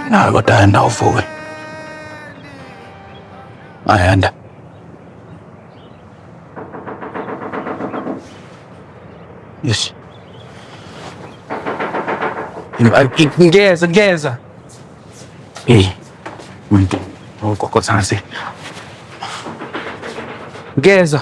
nawe kodwa yanda uvuke ayanda yes ngeza ngeza hey muntu ugogo sansi ngeza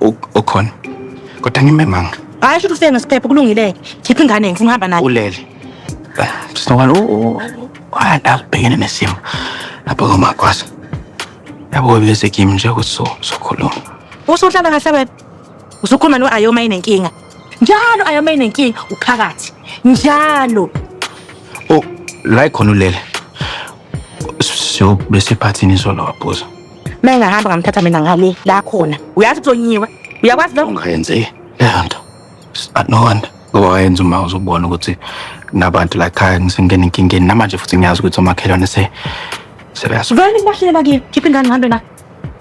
Ukhona. Kodwa ngimemanga. Hayi shuthi ufike ngesiphepho kulungile-ke. Khipha ingane ngifuna uhamba nayo. Ulele. Sinokwani ubhekene nesimo lapho komakwasa. Yabo bese kimi nje ukuthi so sokhuluma. Usuhlala kahle wena. Usukhuluma no Ayoma inenkinga. Njalo Ayoma inenkinga uphakathi. Njalo. Oh, la ikhona ulele. So bese phathini izolo wabhuza. Uma engahamba ngamthatha mina ngale la khona. Uyazi kuzonyiwe. Uyakwazi lokho? Ungayenze leyo nto. No wonder. Ngoba wayenza uma uzobona ukuthi nabantu la khaya ngisengena enkingeni namanje futhi ngiyazi ukuthi omakhelwane se sebeyasuka. Vele ngibahlela kimi. Khipha ingane ngihambe nayo.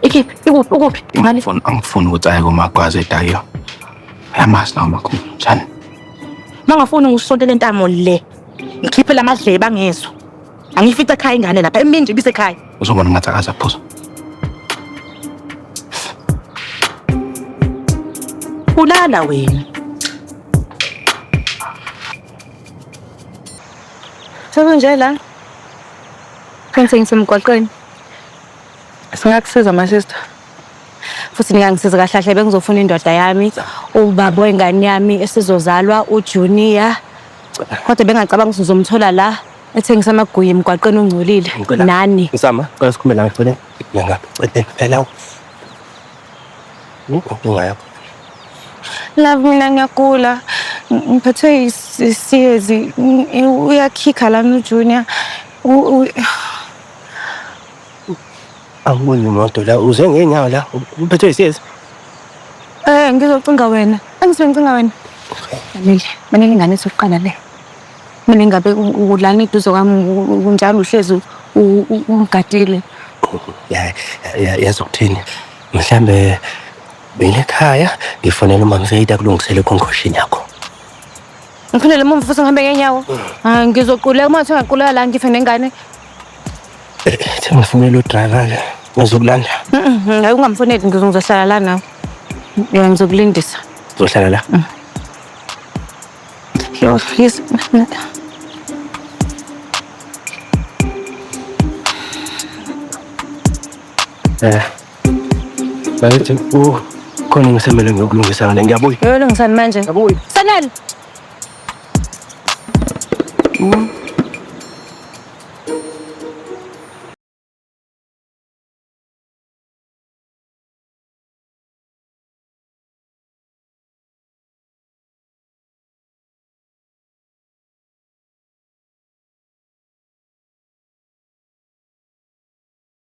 Ikhiphe. Ikuphi? Ukuphi? Ngale. Angifuni angifuni ukuthi aye komagwaze edakiyo. Yamazi lawo makhulu. Njani? Mangafuni ngisontele intamo le. Ngikhiphe lamadlebe angezwa. Angifica ekhaya ingane lapha emini nje ibisekhaya. Uzobona ngathi akazaphuza. Ulala wena. Sekunje la. Kwenze ngisemgwaqweni. Singakusiza my sister. Futhi ningangisiza kahle kahle bengizofuna indoda yami, ubaba wengane yami esizozalwa uJunior. Kodwa bengacabanga ukuthi uzomthola la ethengisa amaguye emgwaqeni ongcolile Ngicela. nani. Nsama, cela sikhume la ngicele. Ngiyangapha, cela phela. Inkinga yakho. Love mina ngiyagula. Ng- Ngiphethwe isiyezi. Uyakhikha lana uJunior. U- u- Angiboni imoto la, uze ngeenyawo la, uphethwe yisezi. Eh, ngizocinga wena. Angisuke ngicinga wena. Manele, manele ingane sokuqala le. Mina ingabe u- ulana eduze kwami u- u- unjalo uhlezi u- u- u- ungigadile. Ya- ya- yazi ukuthini mhlambe mina ekhaya ngifonela umamseyita kulungisele ekhonkoshini yakho Ngiphindele emuva futhi ngihambe ngenyawo. Hayi ngizoquleka uma ngathiwa ngaquleka la ngife nengane. Themba mfunela udriver-ke ngizokulanda. Mhm, Hayi ungamfoneli ngizo- ngizohlala la nawe. Ya ngizokulindisa. Uzohlala la? Yo, yes. Eh, Bakithi oh, khona engisemele ngiyokulungisa ngale ngiyabuya. Uyolungisani manje? Ngiyabuya. Sanele.